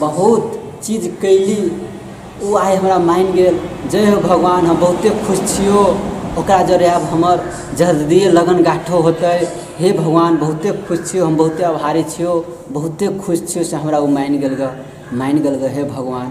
बहुत चीज कयली ओ आइ हमरा मानि गेल जय हो भगवान हम बहुते खुश छियौ ओकरा जरे आब हमर जल्दिये लगन गाँठो होतै हे भगवान बहुते खुश छियौ हम बहुते आभारी छियौ बहुते खुश छियौ से हमरा ओ मानि गेल गऽ मानि गेल गऽ हे भगवान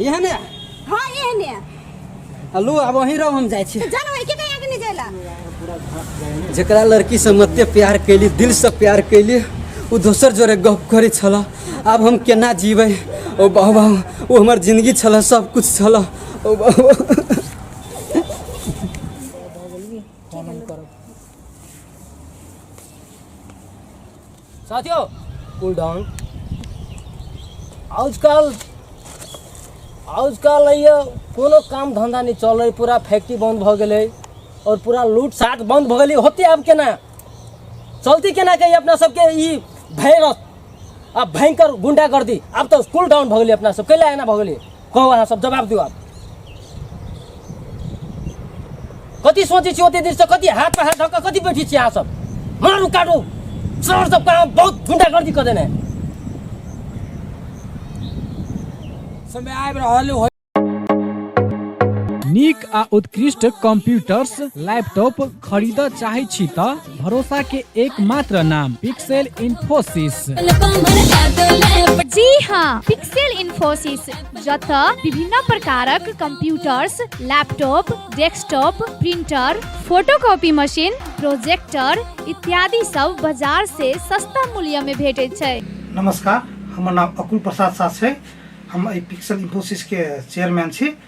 एहने हाँ एहने हलू अब वहीं रहो हम जाए छी जानो है कितने आगे नहीं जाएला जकरा लड़की से मते प्यार कैली दिल से प्यार कैली वो दोसर जोरे गप करे छल आब हम केना जीबै ओ बाबा वो हमर जिंदगी छल सब कुछ छल ओ बाबा फोन करब साथियों कूल डाउन आजकल आजकल ये कोनो काम धंधा नहीं चल रही पूरा फैक्ट्री बंद भ गए और पूरा लूट साट बंद भ गई होते अब केना चलती केना कही अपना सबके ई भैरस अब भयंकर गुंडागर्दी अब तो कूल डाउन भ गई अपना सब कैला एना भ गई कहो अहाँ सब जवाब दियो आप कति सोचे छी ओते दिन से कति हाथ पर हाथ धक्का कति बैठी छी अहाँ सब मारू काटू सर सब काम बहुत गुंडागर्दी कर देने समय आबि रहल हो नीक आ उत्कृष्ट कंप्यूटर्स लैपटॉप खरीदऽ चाहै छी तऽ भरोसा के एकमात्र नाम पिक्सेल इन्फोसिस जी हाँ पिक्सेल इन्फोसिस जत विभिन्न प्रकारक computers laptop desktop printer photocopy machine projector इत्यादि सब बाजार से सस्ता मूल्य में भेटे छै नमस्कार हमर नाम अकुल प्रसाद साह छै हम एहि पिक्सल इन्फोसिसके चेयरमैन छी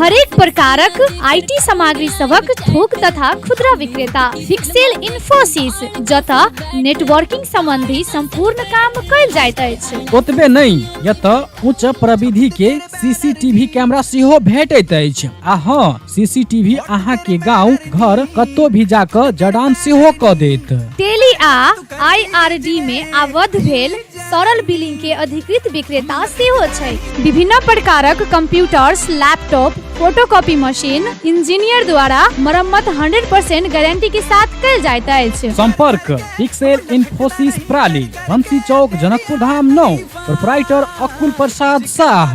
हरेक प्रकारक आईटी सामग्री सभक थोक तथा खुदरा विक्रेता फिक्सेल इन्फोसिस जतऽ नेटवर्किंग संबंधी संपूर्ण काम कयल जाइत अछि ओतबे नहि एतऽ उच्च प्रविधि के सीसीटीवी कैमरा सेहो भेटैत अछि आ हँ सीसीटीवी अहाँ के गांव घर कतौ भी जाकऽ जड़ान सेहो कऽ देत टेली आ आईआरडी में आबद्ध भेल तरल बिलिंग के अधिकृत विक्रेता सेहो छै विभिन्न प्रकारक computers laptop photocopy machine engineer द्वारा मरम्मत 100% गारंटी के साथ कल जाइत अछि संपर्क पिक्सेल इन्फोसिस प्राली बंसी चौक जनकपुर धाम नौ प्रोपराइटर अकुल प्रसाद शाह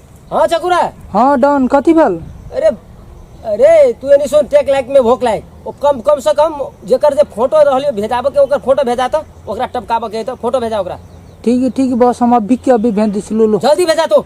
हाँ चकुरा हाँ डॉन कथी भेल अरे अरे तू एनी सुन टेक लाइक में भोक लाइक ओ कम कम से कम जेकर जे फोटो रहलियो भेजाबे के ओकर फोटो भेजा तो ओकरा टपकाबे के तो फोटो भेजा ओकरा ठीक है ठीक है बस हम अभी के अभी भेज दी छी, लो लो जल्दी भेजा तो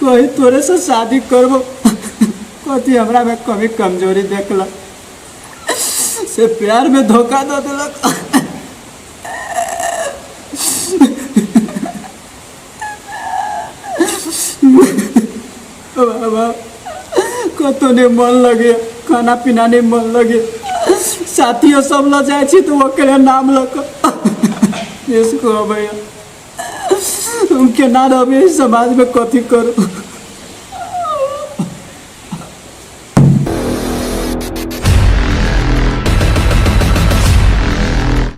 कोई तोरे से शादी करबो कथी हमरा में कमी कमजोरी देखला से प्यार में धोखा दो दिलक बाबा कतो ने मन लगे खाना पीना ने मन लगे साथियों सब ल जाए छी तो ओकरे नाम लक इसको भैया हम केना रहबै एहि समाजमे कथी करू